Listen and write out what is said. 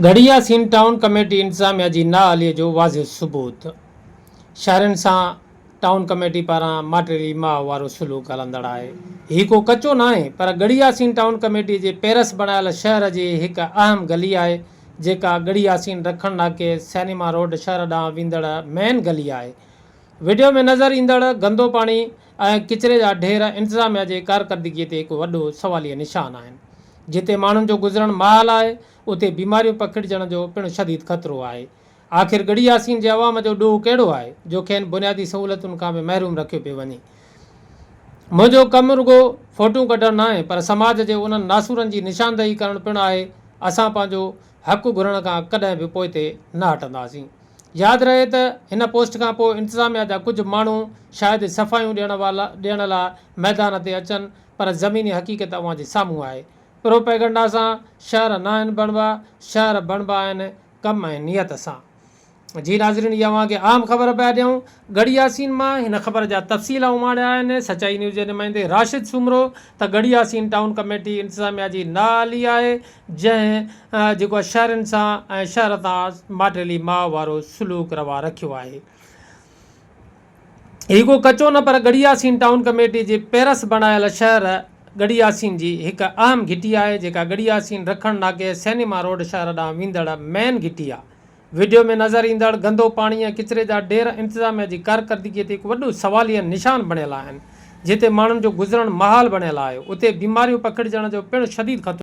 گهڙي يا سين ٽائون ڪميٽي انتظاميا جي نااهلي جو واضح ثبوت شهرين سان ٽائون ڪميٽي پاران ماٽيلي ماء وارو سلوڪ هلندڙ آهي. هي ڪو ڪچو ناهي پر گهڙي يا سين ٽائون ڪميٽي جي پيرس بڻايل شهر جي هڪ اهم گلي آهي جيڪا گهڙي يا سين رکڻ ناڪي سئنيما روڊ شهر ڏانهن ويندڙ مين گلي آهي. وڊيو ۾ نظر ايندڙ گندو پاڻي ۽ ڪچري جا ڍير انتظاميا جي ڪارڪردگي تي هڪ وڏو سواليه نشان آهن. جتي ماڻهن جو گذرڻ محال آهي، اتي بيماريون پکڙجڻ جو پڻ شديد خطرو آهي. آخر ڳڙهي ياسين جي عوام جو ڏوهه ڪهڙو آهي، جو کين بنيادي سهولتن کان به محروم رکيو پيو وڃي. منهنجو ڪم رڳو فوٽون ڪڍڻ ناهي، پر سماج جي انهن ناسورن جي نشاندهي ڪرڻ پڻ آهي. اسان پنهنجو. حق گهرڻ کان ڪڏهن به پوئتي نه هٽنداسين. ياد رهي ته هن پوسٽ کان پوء انتظاميا جا ڪجهه ماڻهو شايد صفايون ڏيڻ والا ڏيڻ لا ميدان تي اچن پر زميني حقيقت اوهان جي سامهون آهي. پروپيگنڊا سان شهر ناهن بڻبا، شهر بڻبا آهن ڪم ۽ نيت سان. جي ناظرين جي اوهان کي اهم خبر پيا ڏيون ڳڙهي ياسين مان هن خبر جا تفصيل اماڻيا آهن سچائي نيوز جي نمائندي راشد سومرو ته ڳڙهي ياسين ٽائون ڪميٽي انتظاميا جي نااهلي آهي جنهن جيڪو شهرين سان ۽ شهر تان ماٽيلي ماء وارو سلوڪ روا رکيو آهي هي ڪو ڪچو نه پر ڳڙهي ياسين ٽائون ڪميٽي جي پيرس بڻايل شهر ڳڙهي ياسين جي هڪ اهم گهٽي آهي جيڪا ڳڙهي ياسين رکڻ ناڪي سينيما روڊ شهر ڏانهن ويندڙ مين گهٽي آهي وڊيو ۾ نظر ايندڙ گندو پاڻي ۽ ڪچري جا ڍير انتظاميا جي ڪارڪردگي تي هڪ وڏو سواليه نشان بڻيل آهن، جتي ماڻهن جو گذرڻ محال بڻيل آهي، اتي بيماريون پکڙجڻ جو پڻ شديد خطرو آهي.